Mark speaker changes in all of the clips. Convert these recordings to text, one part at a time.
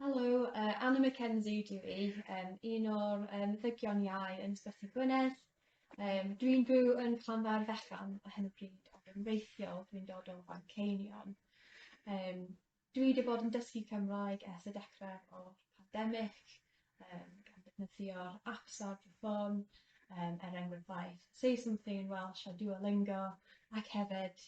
Speaker 1: Helo, uh, Anna McKenzie dwi i, um, un o'r um, ddygion iau yn Ysbyty Gwynedd. Um, dwi'n byw yn Llanfair Fechan a hyn o bryd, ac yn reithiol dwi'n dod o Fanceinion. Um, dwi wedi bod yn dysgu Cymraeg ers y dechrau o'r pandemig, um, gan ddefnyddio'r apps ar fy ffôn, um, er enghraifft Say Something in Welsh a Duolingo, ac hefyd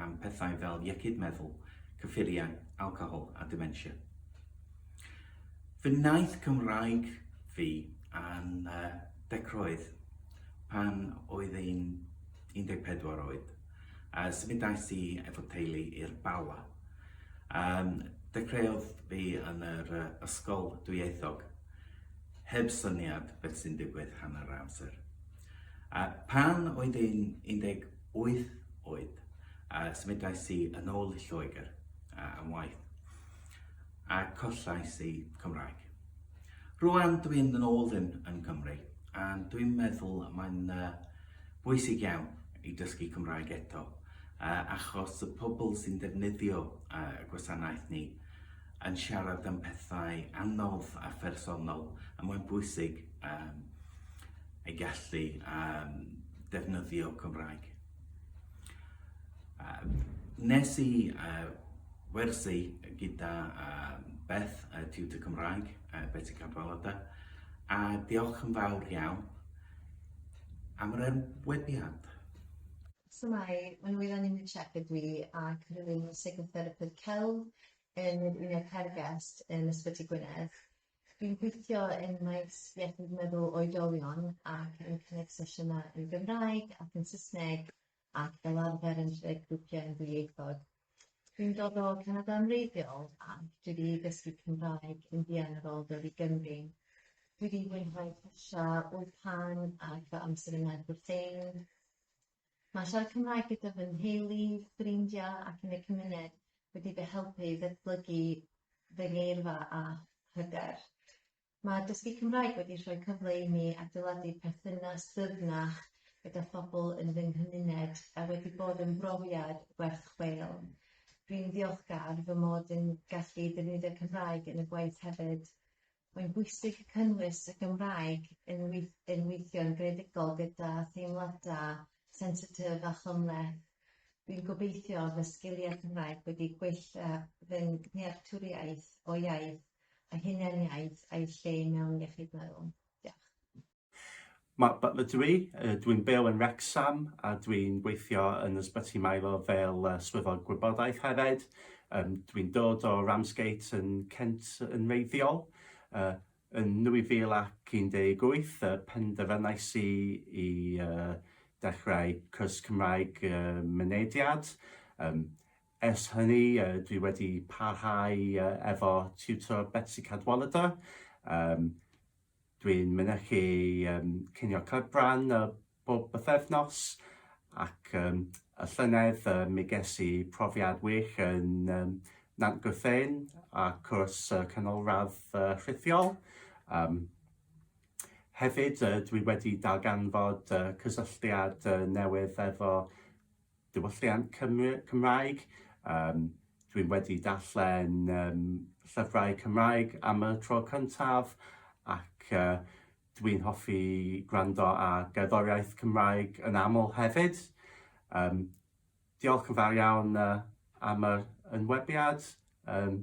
Speaker 2: am pethau fel iechyd meddwl, cyffuriau, alcohol a dementia. Fy nnaeth Cymraeg fi yn uh, decroedd pan oedd ein 14 oed. Uh, symudais i efo teulu i'r Bala. Um, dechreuodd fi yn yr uh, ysgol dwyieithog, heb syniad beth sy'n digwydd hanner amser. A phan oedd yn 18 oed, a symudais i yn ôl i Lloegr a, am waith, a collais i Cymraeg. Rwan dwi yn ôl yn, yn Cymru, a dwi'n meddwl mae'n uh, bwysig iawn i dysgu Cymraeg eto, uh, achos y pobl sy'n defnyddio uh, gwasanaeth ni yn siarad am pethau anodd a phersonol a mae'n bwysig um, ei gallu um, defnyddio Cymraeg. Uh, nes i uh, wersi gyda uh, Beth, uh, Tutor Cymraeg, uh, Betty Cadwaladau, a diolch yn fawr iawn am yr ymwebiad.
Speaker 3: So mae, mae'n wylan i'n siarad dwi ac rwy'n psychotherapydd celf yn yr Uned Hergest yn Ysbyty Gwynedd. Dwi'n gweithio yn maes iechyd meddwl oedolion ac yn cynnig sesiynau yn Gymraeg ac yn Saesneg ac fel arfer yn rhedeg grwpiau yn ddwyieithog. Dwi'n dod o Canada yn wreiddiol ac dwi wedi dysgu Cymraeg yn fuan ar ôl dod i Gymru. Dwi wedi mwynhau Persia, Wlpan ac fy amser yng Nghaerfyrddin. Mae siarad Cymraeg gyda fy nheulu, ffrindiau ac yn y cymuned wedi fy helpu i ddatblygu fy ngeirfa a hyder. Mae dysgu Cymraeg wedi rhoi cyfle i mi adeiladu perthynas dyfnach gyda phobl yn fy nghymuned a wedi bod yn brofiad werth chweil. Rwy'n ddiolchgar fy mod yn gallu defnyddio Cymraeg yn y gwaith hefyd. Mae'n bwysig cynnwys y Gymraeg yn yn weithio'n greadigol gyda theimladau sensitif a chymhleth. Dwi'n gobeithio fy sgiliau Cymraeg wedi gwella fy nhealltwriaeth o iaith a hunaniaeth a'i lle mewn iechyd meddwl. Diolch. Mark Butler
Speaker 4: dw i, dwi'n byw yn Wrecsam a dwi'n gweithio yn Ysbyty Milo fel Swyddog Gwybodaeth hefyd. Um, dwi'n dod o Ramsgate yn Kent yn reiddiol. Uh, yn 2018 uh, penderfynais i i uh, dechrau cwrs Cymraeg uh, mynediad. Um, ers hynny, uh, dwi wedi parhau uh, efo tutor Betsy Cadwaladr. Um, Dwi'n mynychu um, cinio cyfran uh, bob bythefnos ac um, y llynedd uh, mi ges i profiad wych yn um, Nant Gwrthein a cwrs uh, canolradd uh, rhithiol. Um, hefyd, uh, dwi wedi darganfod uh, cysylltiad uh, newydd efo diwylliant Cymru, Cymraeg. Um, dwi'n wedi darllen um, llyfrau Cymraeg am y tro cyntaf ac uh, dwi'n hoffi gwrando a gerddoriaeth Cymraeg yn aml hefyd. Um, diolch yn fawr iawn uh, am yr ynwebiad. Um,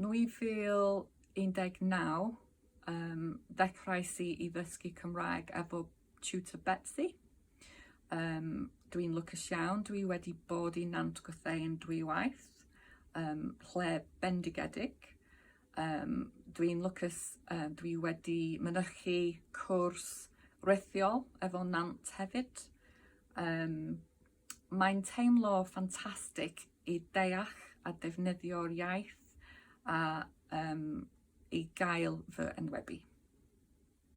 Speaker 5: 2019, um, ddechrauais i i ddysgu Cymraeg efo tutor Betsy. Um, dwi'n lwcus iawn, dwi wedi bod i Nant Gwrthein dwy waith, um, lle bendigedig. Um, dwi'n lwcus, um, dwi wedi mynychu cwrs rithiol efo Nant hefyd. Um, Mae'n teimlo ffantastig i ddeall a defnyddio'r iaith a um, i gael fy enwebu.